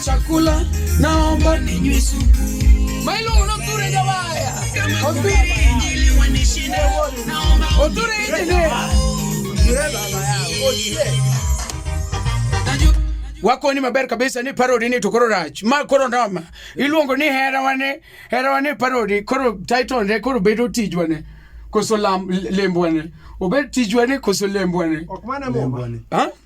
Chakula naomba ninywe supu. Mailo unature jawaya. Oture injili wanishinde. Naomba oture injili. Wako ni maber kabisa ni parody ni to koro rach. Ma koro noma. Iluongo ni hera wane, hera wane parody. Koro title ne koro bedo tijwane. Koso lam lembwane. Obed tijwane koso lembwane. Ok mana mumba. Ha?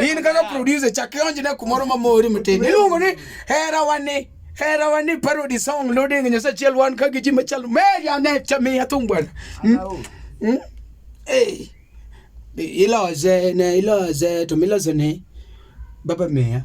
in kaka producer chak ionjne kumoro mamori matin iluongo ni hera wani hera wani parody song loading nyasaye achiel wan ka gi ji machalo meya ne chamiya thum bwana hmm? Hmm? iloze ne iloze to milozone baba meya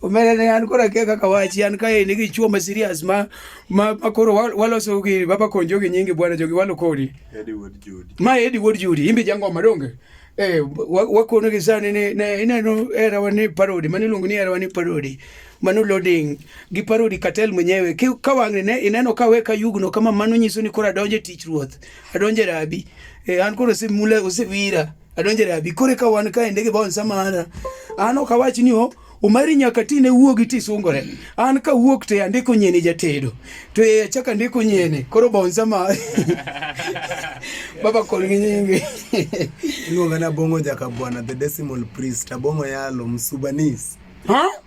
omera ne an kora kia kaka wachi an kae nigi chuo ma serious ma ma, ma koro waloso gi baba kon jogi nyingi bwana jogi walo kodi ma Eddie Wood Judy imbi jangoma donge eh wakono gi sani ne ne ineno era wani parodi mani lungu ni era wani parodi mano loading gi parodi katel mwenyewe ka wang'ni ne ineno ka weka yugno kama mano nyiso ni koro adonje tich ruoth adonje rabi eh an koro simula usewira adonjere abi kore ka wan kae ndege bon samara an ok awach ni o umari nyaka tine wuogi tisungore an ka wuok te andiko nyene jatedo to e achaka andiko nyene koro bon sama baba kol gi nyingi iluonga na bongo jaka bwana the decimal priest abongo yalo msubanis ha huh?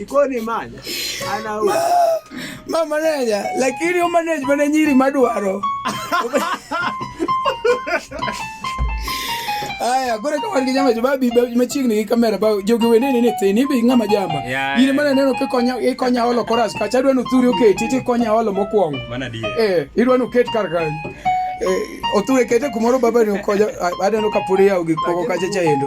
Ikoni man. Ana u. Ma manager, lakini u manager mana nyiri madwaro. Aya, gore kama ni nyama jababi machigni gi kamera ba jogi wene ni nithe ni bi ngama jamba. Yini mana neno ke konya e konya olo koras ka chadwa no thuri oke titi konya olo mokwongo. Mana die. Eh, idwa no ket kar kanyo. Eh, oture kete kumoro baba ni okonya adaneno ka puri yawo gik moko kacha cha endo.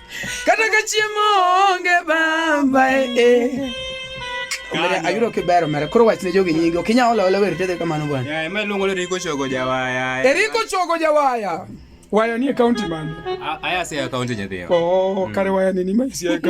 kata ka chiemo onge bamba e eh, eh. Omera ayudo kibero mera koro wach ne jogi nyingi okinya ola ola wer tede kamano bwana. Ya ema luongo ni Riko Chogo Jawaya. Eriko eh, Chogo Jawaya. Waya ni county man. Aya se county nyadhiyo. Oh, kare mm. waya ni ni ma si county.